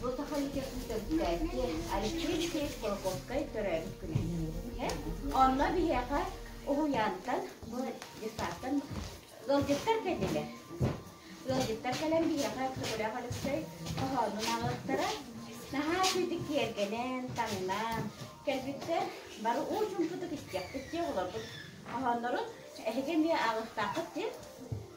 Туотахайга күүтэрдээки Алексей Кулаковскай төрөөбүт күнэ. Онно биһиэхэ уһуйаантан, детсадтан ыалдьыттар кэллилэр. Ыалдьыттар кэлэн биһиэхэ Көкүрэх Алексей хоһоонун ааҕыахтара. Наһаа үчүгдүк киэргэнэн, таҥнан кэлбиттэр. Бары уу чуумпутук иччиэхпит диэн олорбут хоһооннорун эһиги эмиэ ааҕыахтааххыт диэн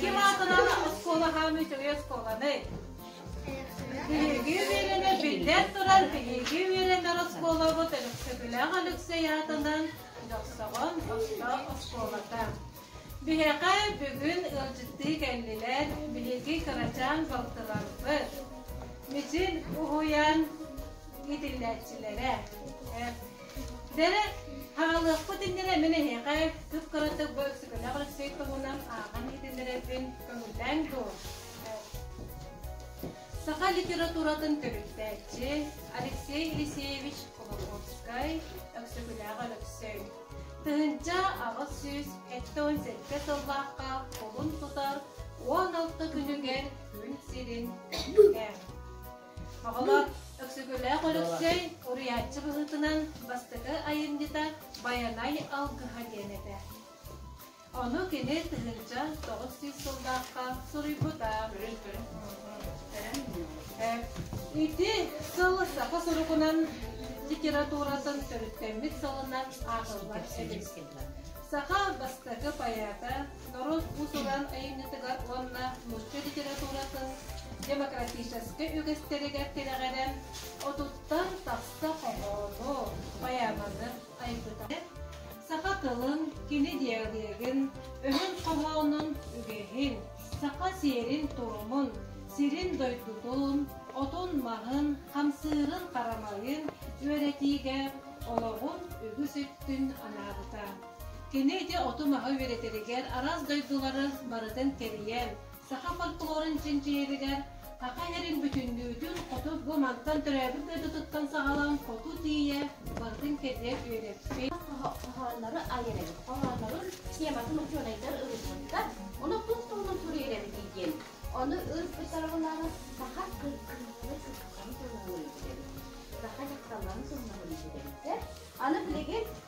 Ким аатынан оскуолаһааны үчүгэй оскуоланы? Биһиги үөрэнэ биллэн турар биһиги үөрэнэр оскуолабыт Өлөксөкүлээх Алексей аатынан Дьохсоҕон оттоох оскуолата. Биһиэхэ бүгүн ыалдьыттыы кэллилэр биһиги кырачаан балтыларбыт. Мичин уһуйан итиллээччилэрэ. Дэрэ, хаҕалыахпыт иннинэ мин эһиэхэ кып-кыратык бу өксөкүлээх Алексей туһунан ааҕан иһитиннэрэбин көҥүллээҥ дуо? Саха литературатын төрүттээччи Алексей Елисеевич Кулаковскай Өксөкүлээх Өлөксөй тыһыынча аҕыс сүүс сэттэ уон сэттэ сыллаахха кулун тутар уон алта күнүгэр күн сирин Оҕолор Өксөкүлээх Өлөксөй уруйааччы быһыытынан бастакы айымньыта Байанай алгыһа диэн этэ. Ону кини тыһыынча тоҕус сүүс сыллаахха суруйбута. Ити сыл саха сурукунан литературатын төрүттэммит сылынан аатыллар эбит. Саха бастакы поэта Норуот уус-уран айымньытыгар уонна нуучча литературатын демократическай үгэстэригэр тирэҕирэн, отуттан тахса хоһоону, поэманы айбыта. Саха тылын, кини диалегын, өһүн хоһоонун, үгэһин, саха сиэрин-туомун, сирин-дойдутун, отун-маһын, хамсыырын-харамайын үөрэтиигэ олоҕун үгүс өттүн анаабыта. Кини ити оту-маһы үөрэтэригэр араас дойдулары барытын тэрийэн, саха фольклорун чинчийэригэр Саха сирин бүтүннүүтүн хоту бу мантан төрөөбүт дойдутуттан саҕалаан хоту тиийэ барытын кэрийэн үөрэппит. хоһооннору айанэбит. Хоһооннорун тематын учуонайдар ылыммыттар. Ону тус туһунан суруйэрэбитий диэн. Ону ыыппыттарылары саха кыргыылары кыргыыларын туһунан уруйдуйабыт. Саха дьахталларын туһунан уруйдуйабыттар. Аны билигин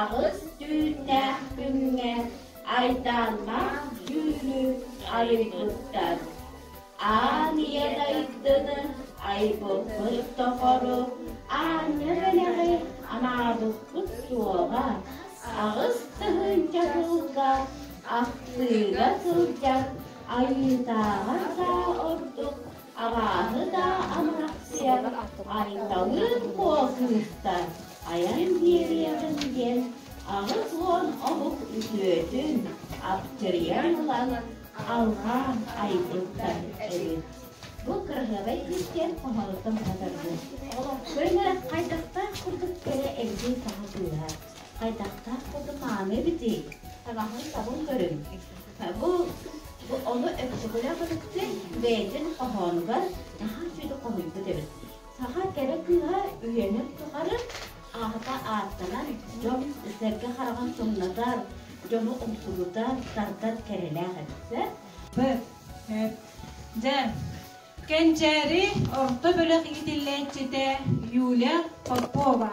Аҕыс түүннээх күҥҥэ Айдааннаах дьүүлү айыйбыттар. Аан ийэ дайдыны айбыппыт тухары аанньа бэлэҕи анаабыппыт суоҕа. Аҕыс тыһыынча сылга ахтыыга сылдьар Айыытааҕар саа ордук Абааһы даа Амарахсыйа Айталыын Куо кыыстар айан биэриэҕин диэн аҕыс уон омук үтүөтүн аптырыйан ылан алҕаан айбыттар эбит. Бу кыраһыабай күүстээх хоһоонуттан сатарбыт. Көнө хайдахтаах курдук кэрэ эбитий саха тыына? Хайдахтаах курдук мааны эбитий? Таҥаһын-сабын көрүҥ. Бу, бу олу өттүгүлэх ытыкты бэйэтин хоһоонугар наһаа сүдү хоһуйбут эбит. Саха кэрэ кыыһа үйэнин тухары аата ааттанар, дьон сэргэ хараҕын сымнатар, дьону умсугутар, тардар кэрэлээх эбит. Дьэ, кэнчээри орто бөлөх иитиллээччитэ Юля Попова.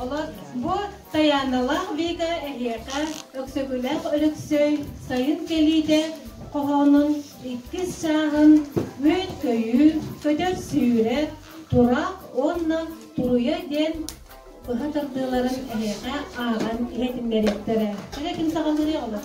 Олох бу Таяналаах Вика эһиэхэ Өксөкүлээх Өлөксөй сайын кэлиитэ хоһоонун иккис чааһын Мүөт-көйүүр, көтөр сүүрэр, Тураах уонна Туруйа диэн быһа тардыыларын эһиэхэ ааҕан иһитиннэриэхтэрэ. Кэрэ ким саҕалыырый олох?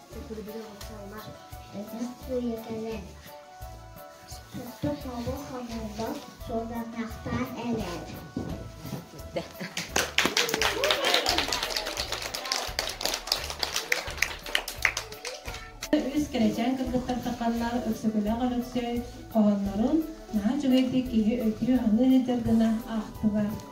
Үс кэрэчээн кыргыттар саханнар Өксөкөлөөх Өлөксөй хоһоннорун наһаа үчүгэйдик киһи өйдүү аныыр гына аахтылар.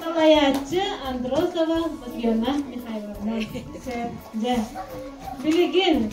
салайааччы Андросова Татьяна Михайловна. Дьэ, билигин